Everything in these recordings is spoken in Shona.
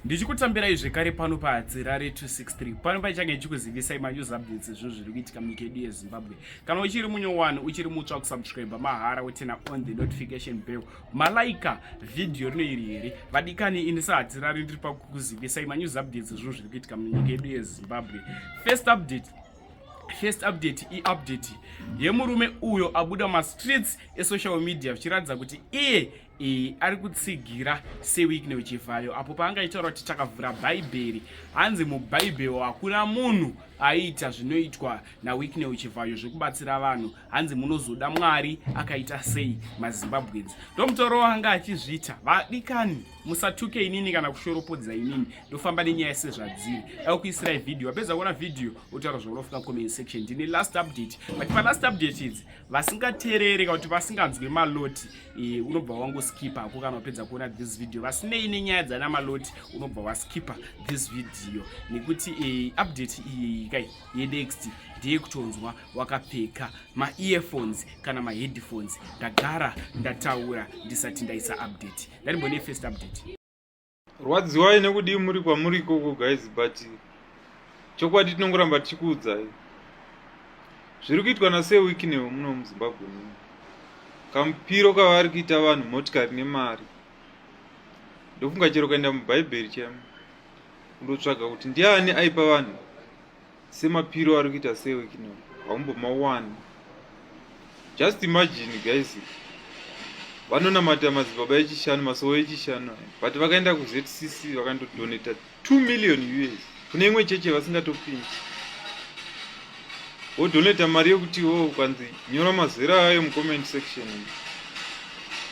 ndichikutambirai zvekare pano pahadzirare 263 pano paichange ichikuzivisai manews updates ezvinhu zviri kuitika munyika yedu yezimbabwe kana uchiri munyowani uchiri mutsva kusubscribe mahara wotena on the notification bell malaika vhidhiyo rino iri here vadikani ini sahadzirare ndiri pakukuzivisai manews updates ezvinhu zviri kuitika munyika yedu yezimbabwe first update first update iupdate yemurume uyo abuda mumastreets esocial media zvichiratidza kuti iye E, ari kutsigira sewikne wechivhayo apo paangaitaura kuti takavhura bhaibheri hanzi mubhaibheri hakuna munhu aiita zvinoitwa nawikne wechivhayo zvekubatsira vanhu hanzi munozoda mwari akaita sei mazimbabwens ndomutoro wanga achizviita vadikani musatuke inini kana kushoropodza inini ndofamba nenyaya sezvadziri dai kuisirai vhidhiyo wapedza kuona vhidhiyo otaura zvaunofuna comment section ndine last update but palast update idzi vasingateerere kana kuti vasinganzwe maloti e, unobva wangoskipa hako kana wapedza kuona this video vasinei nenyaya dzana maloti unobva waskipa this video nekuti e, update iyeyi kai yenext ndiye kutonzwa wakapfeka maearphones kana maheadphones ndagara ndataura ndisati ndaisa update ndarimbone first update rwadziwai nekudii muri kwamuri ikoko guys but chokwadi tinongoramba tichikuudzai zviri kuitwa nasee wikinewo muno muzimbabwe muno kamupiro kavari kuita vanhu motikari nemari ndofunga chero ukaenda mubhaibheri chemo undotsvaga kuti ndiani aipa vanhu semapiro ari kuita sewe kino haumbomawani just imagine guys vanonamata madzibaba echishanu masowo echishanu but vakaenda kuzcc vakandodoneta 2 million us kune imwe cheche vasingatopindi wodoneta mari yekuti wo ukanzi nyora mazera ayo mucomment section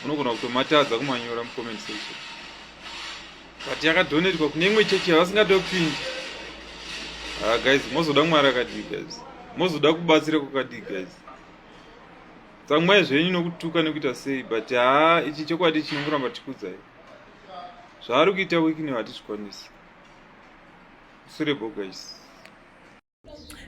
unogona kutomatadza kumanyora mucomment section but yakadonetwa kune imwe chechi yavasingade kupinda ha ah, guys mozoda mwari akadii guys mozoda kubatsira kwakadii guys tsamwai zvenyu nokutuka nekuita sei but haa ichi chokwadi chinomuramba tikudzai zvaari kuita wikini hatizvikwanisi sure bo guys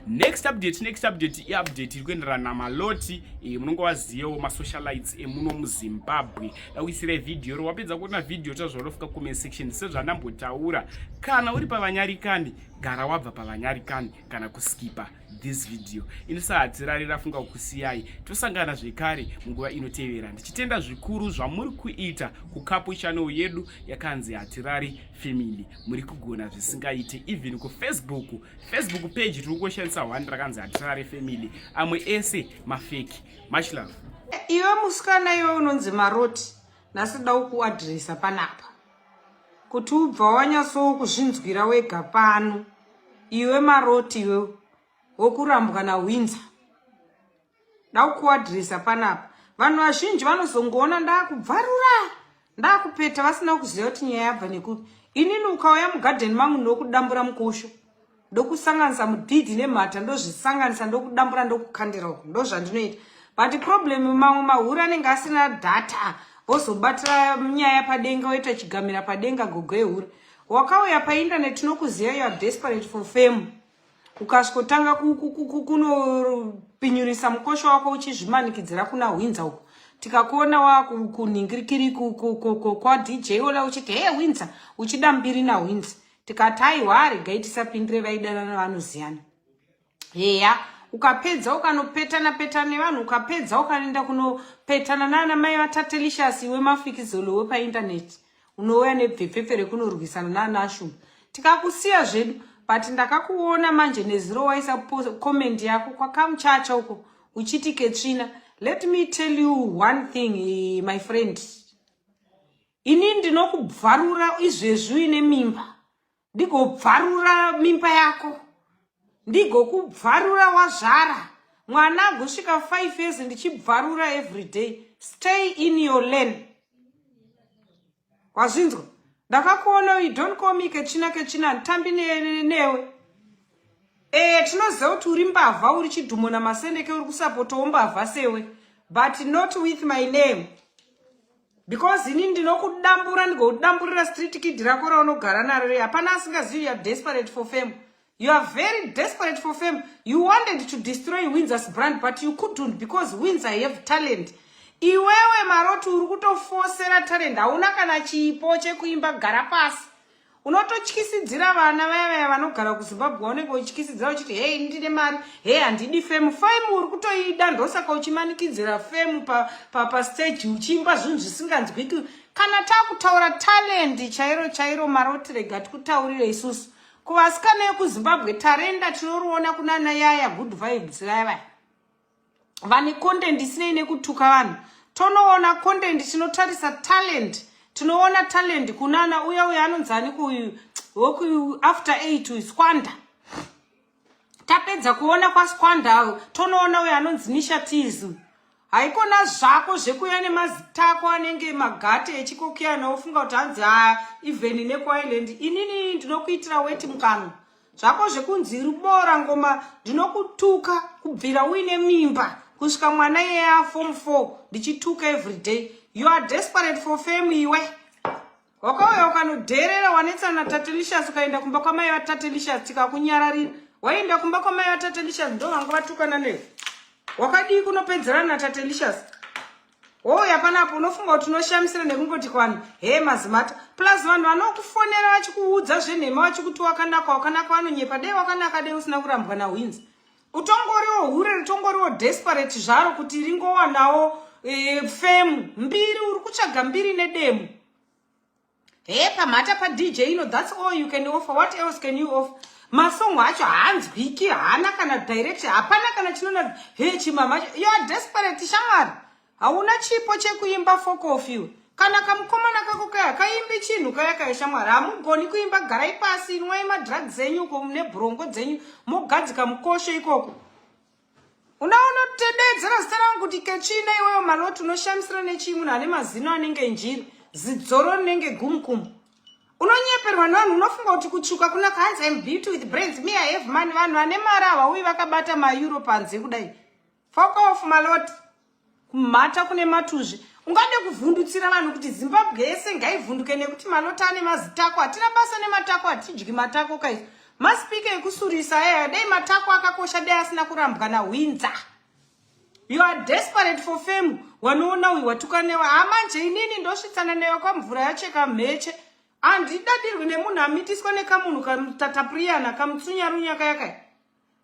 next update next update iupdate iri kuenderana namaloti eh, munonge waziyewo masocialites emuno eh, muzimbabwe dakuisirai vhidhiyo ro wapedza kuona vhidhiyo tazvarofuka comment section sezvandambotaura kana uri pavanyarikani gara wabva pavanyarikani kana kuskipa this video inosahadzirari rafunga kukusiyai tosangana zvekare munguva inotevera ndichitenda zvikuru zvamuri kuita kukapu channel yedu yakanzi hatirari family muri kugona zvisingaite even kufacebook Facebook page tiri kushandisa one rakanzi hatisarare family amwe ese mafeki much love. Iwe musikana iwe unonzi maroti nhasi da ukuadresa panapa kuti ubva wanyatsowo kuzvinzwira wega pano iwe maroti iwe wokurambwa nawinzer ndakukuadresa panapa vanhu vazhinji vanozongoona ndakubvarura ndakupeta vasina kuziva kuti nyaya yabva nekuti inini ukauya mugadheni mangu ndokudambura mukosho ndokusanganisa mudhidhi nemhata ndozvisanganisa ndokudambura ndokukandira uku ndozvandinoita but problem mamwe mahure anenge asina data vozobatira nyaya padenga woita chigamira padenga gogo ehure wakauya paindaneti nokuziva yoa desperate for fame ukasvotanga kunopinyurisa mukosho wako uchizvimanikidzira kuna hwinza uko tikakuona wakunhingirikiri kwadj ola uchiti hee hwinza uchida mbiri nahwinza tikati aiwa regai tisapindire vaidanana vanoziyana heya ukapedza ukanopetana petana nevanhu ukapedza ukanoenda kunopetana naana mai vatatelicious iwe mafikizolo wepaindaneti unouya nebvepfepfe rekunorwisana nanashum tikakusiya zvedu but ndakakuona manje nezuro waisa comment yako kwakamuchacha uko uchiti ketsvina let me tell you one thing eh, my friend ini ndinokubvarura izvezvi uine mimba ndigobvarura mimba yako ndigokubvarura wazvara mwana agosvika 5 years ndichibvarura everyday stay in your lane wazvinzwa ndakakuona you don't call me kechina kechina nditambi newe ee eh, tinoziva kuti uri mbavha uri chidhumo namasendeke uri kusapotawo mbavha sewe but not with my name because ini ndinokudambura ndigokudamburira street kid rako raunogara naro rei hapana asingazivi youare desperate for fame you are very desperate for fame you wanted to destroy windsors brand but you couldn't because windsa have talent iwewe maroti uri kutofosera talent hauna kana chipo chekuimba gara pasi unototyisidzira vana vaya vaya vanogara kuzimbabwe waunenge uchityisidzira uchiti hei ndine mari hei handidi femu femu uri kutoida ndosaka uchimanikidzira femu papasteji pa, pa uchiimba zvinhu zvisinganzwiki kana takutaura talendi chairo chairo marotirega tikutaurire isusu kuvasikana yekuzimbabwe tarenda tinoriona kunana yaya good vibes vaya vaya vane content isinei nekutuka vanhu tonoona content tinotarisa talent tinoona talent kunana uya uya anonzi aniko uyu woku after eight uyu squanda tapedza kuona kwasquanda uyu tonoona uyo anonzi nisha tis uyu haikona zvako zvekuya nemazitako anenge magate echikokiyana wofunga kuti hanzi ha even nekuiland inini ndinokuitira weti mukanwa zvako zvekunzi rubora ngoma ndinokutuka kubvira uine mimba kusvika mwana yeya form four ndichituka everyday you are desperate for fame iwe wakauya ukanodherera wanetsana natatelicious ukaenda kumba kwamai vatatelicious tikakunyararira waienda kumba kwamai vatatelicious ndo vanga vatukana newe wakadii kunopedzerana natatelicious Hoi hapana apo unofunga kuti unoshamisira nekungoti kwanhu he mazimata plus vanhu vanokufonera vachikuudza zvenhema vachikuti wakanaka wakanaka vanonyepa dei wakanaka dei usina kurambwa nahwinzi utongoriwo hure ritongoriwo desperate zvaro kuti ringowanawo e, femu mbiri uri kutsvaga mbiri nedemo Hey, pamhata pa DJ ino that's all you can offer. What else can you offer? Masong acho haanzwiki, haana kana direction, hapana kana chinona hey chimama. You are desperate shamwari. Hauna chipo chekuimba folk of you. Kana kamukomana kako kaya kaimbi chinhu kaya kaya shamwari. Hamugoni kuimba garai pasi inwai madrugs enyu ko mune brongo dzenyu mogadzika mukosho ikoko. unaonotededzera zita rangu kuti kechina iweyo maloti unoshamisira nechii munhu ane mazino anenge njiri zidzoro rinenge gumukumu unonyeperwa nevanhu unofunga kuti kutsvuka kuna kahanzi im beauty with brains me i have money vanhu vane mari havauyi vakabata maeuro panze kudai fokof maloti kumhata kune matuzvi ungade kuvhundutsira vanhu kuti zimbabwe yese ngaivhunduke nekuti malota ane mazitako hatina basa nematako hatidyi matako kaizo maspika ekusurisa aya dai matako akakosha dai asina kurambwa nahwinza you are desperate for fame wanoona uyu watuka newe hamanje inini ndosvitsana newe kwamvura yacheka mheche handidadirwi nemunhu amitiswa nekamunhu katatapuriyana kamutsunyarunyu akayakaya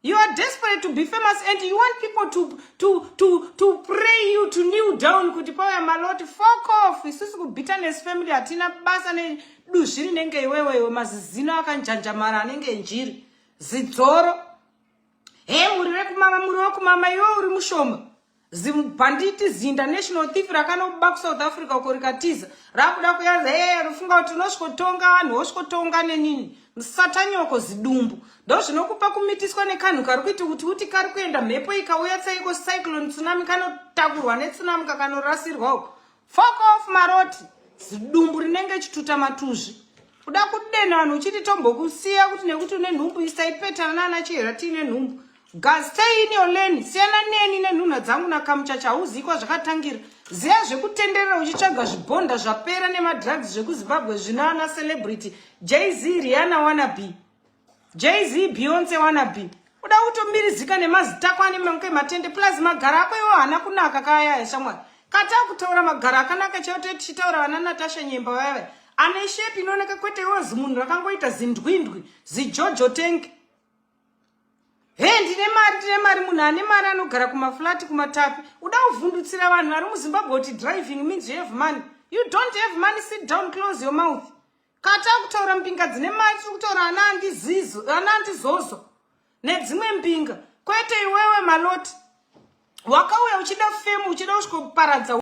You are desperate to be famous and you want people to, to, to, to pray you to kneel down kuti pauya maloti fuck off isusu kubitterness family hatina basa neduzvi rinenge iwewe iwe mazizino akanjanjamara anenge njiri zidzoro he muri rekumama muri wekumama iwe uri mushoma zibhanditi ziinternational thief rakanobuba kusouth africa uko rikatiza rakuda kuyaza ee rufunga kuti unosvikotonga vanhu wosvikotonga nenini musatanyoko zidumbu ndo zvinokupa kumitiswa nekanhu kari kuita kuti uti kari kuenda mhepo ikauya tsaiko cyclone tsunami kanotakurwa netsunami kakanorasirwa uko Fuck off maroti zidumbu rinenge chituta matuzvi kuda kudena vanhu uchiti tombokusiya kuti nekuti une nhumbu isaipetana naana chihera tiine nhumbu gastein yoleni siyana neni nenhunha dzangu nakamucha chauzikwa zvakatangira ziya zvekutenderera uchitsvaga zvibhonda zvapera nemadrugs zvekuzimbabwe zvino ana celebrity jz riana wanabe jz beyonce wanabe uda kutomirizika nemazita ako ane manke matende plus magara ako iwo hana kunaka kayaya shamwari kata kutaura magara akanaka chaiwo toiti chitaura vana natasha nyemba vayavaya ane shepi inooneka kwete iwo zimunhu rakangoita zindwindwi zijojo tenke he ndine mari ndine mari munhu ane mari anogara kumaflati kumatapi uda kuvhundutsira vanhu vari muzimbabwe kuti driving means you have money you don't have money sit down close your mouth Kata kutaura mbinga dzine mari tiri kutaura ana andizizo ana andizozo nedzimwe mbinga kwete iwewe maloti wakauya uchida femu uchida kusvikoparadza